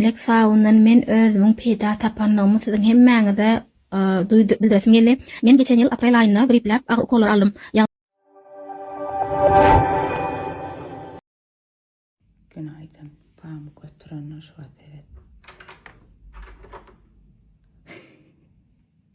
Elek sabundan men özümiň peýda tapandygymy siziň hemmäňize duýduryp bildiresim geldi. Men geçen ýyl aprel aýynda gripläp agyr ukolary aldym. Günaýdyn. Pamyk ötürenler şuwa seret.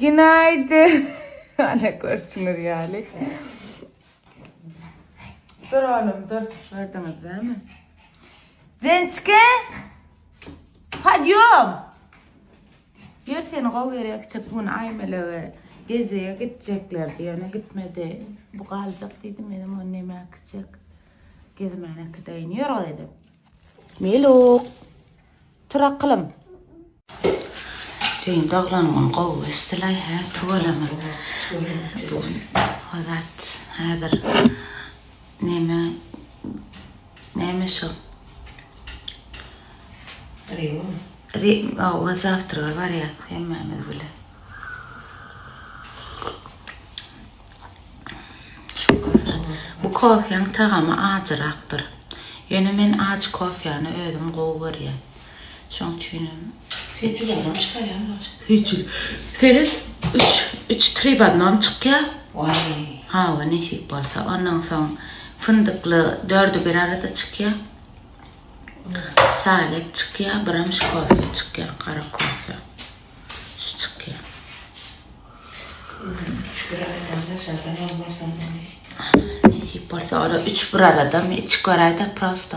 Günaýdyn. Ana görşüňiz ýaly. Dur oğlum dur. Gördüňiz dämi? Jençke. Podýom. Ýör seni gowy gerek çek gün aýmelaga. Gezege gitjekler diýene gitmedi. Bu galjak diýdim men onu näme akjak. Gezmene kidaýyn ýör o dedim. Meluk. Tur akylym. Düýn doglan gün gowy geçdilaý hä tüweleme. Azat häzir neme neme şo Owaz zawtrga barýas hemmämiz bilen. Bu kofýaň tagamy ajyrakdyr. Ýöne men ajy kofýany özüm gowy görýän. Şoň üçin hem Sen çyzamam çykarýaň bolsa. Hiç. Seret, üç, üç tri w odnom çykýa. Waý. Hawa, nesip bolsa. Ondan soň fyndykly dördi bir arada çykýa. Salep çykýa, birem şu kofe çykýa, gara kofe. Şu çykýa. Üç bir arada daşardan almarsan da nesip. Nesip bolsa, ora üç bir aradamy, içip göräý-de prosto.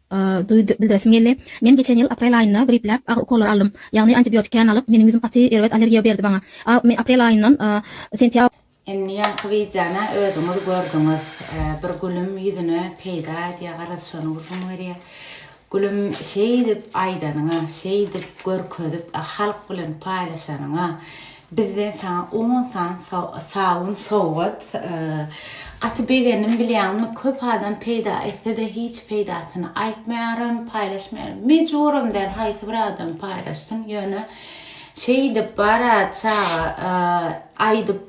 Duýdy, bildiresim geldi. Men geçen ýyl aprel aýynda gripläp, agyry ukollary aldym. Ýagny antibiotik kän alyp, meniň ýüzüm gaty erbet allergiýa berdi maňa. A men aprel aýyndan sentýabr. Indi ýaňky wideony özüňiz gördüňiz. Bir gülüm ýüzüne peýda edýär, garaz şony gürrüň berýär. Gülüm şeýdip aýdanyňa, şeýdip görkezip halk bilen paýlaşanyňa Bizden saňa on san sabyn sowgat. Gaty begendim bilýäňmi köp adam peýda etsede hiç peýdasyny aýtmaýaryn paýlaşmaýaryn mejburam däl haýsy bir adam paýlaşsyn ýöne şeýdip bara çaga aýdyp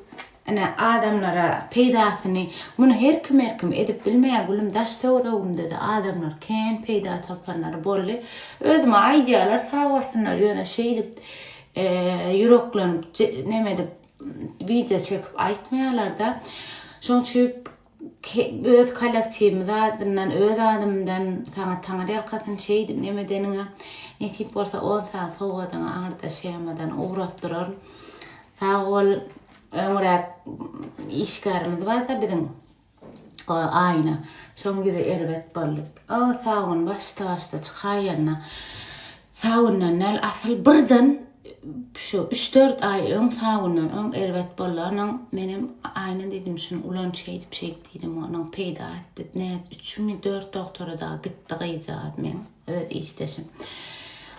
ine adamlara peýdasyny muny her kim her kim edip bilmeýär gülüm daş töweregimdede adamlar kän peýda tapanlary boldy özüme aýdýarlar sag bolsunlar ýöne şeýdip ýüreklenip neme edip wideo çekip aýtmaýarlarda şoň üçin öz kollektiwimiz adyndan öz adymdan saňa taňar ýalkasyn şeýdip neme edeniňe nesip bolsa on saat sowgadyňy aňyrda şemadan ugratdyraryn sag bol öňräk işgärimiz barda biziň O, Aýna. Soň ýüzi erbet boldy. O, Sabun başda-başda çykaýanda, Sabundan däl, asyl birden şu üç-dört aý öň Sabundan öň erbet bolanyň, menem Aýna diýdim, şuny ulan şeýdip-şeýdip diýdim, onuň peýda etdi. Nä üçinmi, dört dogtora-da gitdi gyzjagaz meň öz işdeşim.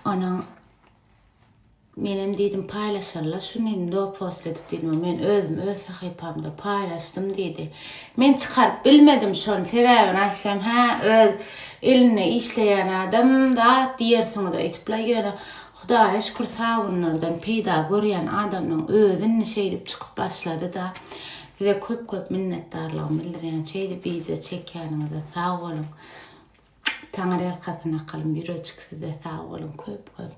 Onuň Menem diýdim paýlaşarlar şuny do post edip diýdim men özüm öz sahypamda paýlaşdym diýdi. Men çykaryp bilmedim şony sebäbini aýtsam hä öz ilinde işleýän adam zat diýersiňiz öýtüpler ýöne Hudaýa şükür sag günlerden peýda görýän adamlaň özi indi şeýdip çykyp başlady da size köp köp minnetdarlygymy bildirýän şeýdip wideo çekýäniňize sag boluň Taňyrýalkasyn akalym ýüreçik size sag boluň köp köp.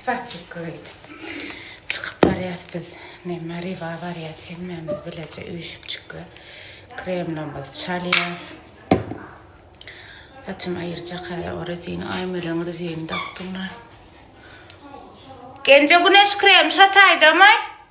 Spasibo eýdip çykyp barýas biz men Maryba barýas hemmämiz bileje üýşüp çykýas kremlamyzy çalýas saçym aýyrjak häzir o rezin aýmeleň rezini dakdymlar Genje güneş krem şataýdamy?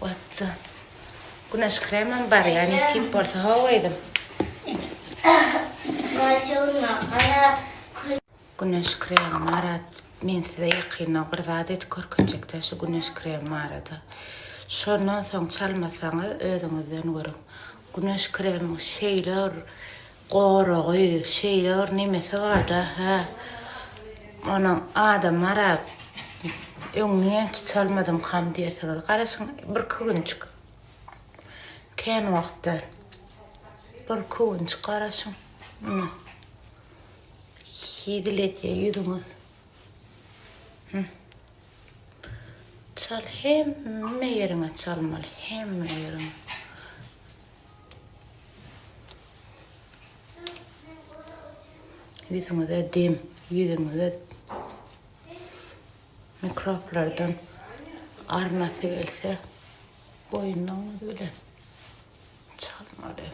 Watja. Güneş kremim bar ya nesip bolsa how edim. Güneş kremi marat men size ýakynda bir zat edip görkezjekde şu güneş kremi barada. Şondan soň çalmasaňyz özüňizden görüň. Güneş kremi şeýle Goragy şeýle bir nemesi barda hä onuň adamara öňňin tutalmadyňkam diýersiňiz garaşyň birki günjik kän wagtdan birki günjik garaşyň muny hizil edýä ýüzüňiz çal hemme ýeriňe çalmaly hemme ýeriňe. Ýüzüňize dem, ýüzüňize mikroblardan arnasy gelse, boýnuňyz bilen çalmaly.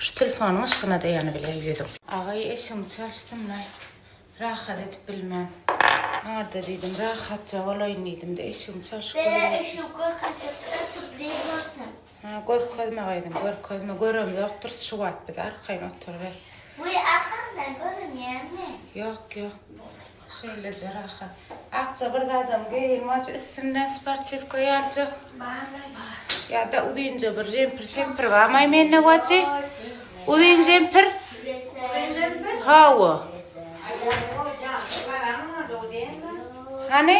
Şu telefonyň yşgyna daýanyp bilen ýüzüm. Agay eşigiňi çalyşdym-la. Rahat edip bilmen. Arda diýdim, rahatja bolaýyn diýdim-de, eşigimi çalşyp gördüm. Beýle eşigi görkezjekdiler, sübreý bolsa. Ha, görkezme gyzym, görkezme. Göremzokdyrys şu wagt biz, arkaýyn oturyber. Wiý, arkaňdan görünýärmi? Ýok, ýok. Şeýleje rahat. Akja bir zadam geýilmaj, üstünden sportiwka ýaljak. Barlaý bar. Ýa-da uzynja bir jempir-şempir barmaý mende wajy. Uzyn jempir. Uzyn jempir? Hawa. Hany?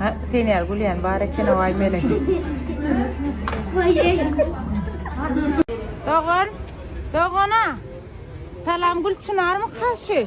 Ha, sen ýaly gülýän bar eken o ay melek. Dogan, dogana. Salam Gülçinarmy kaşy?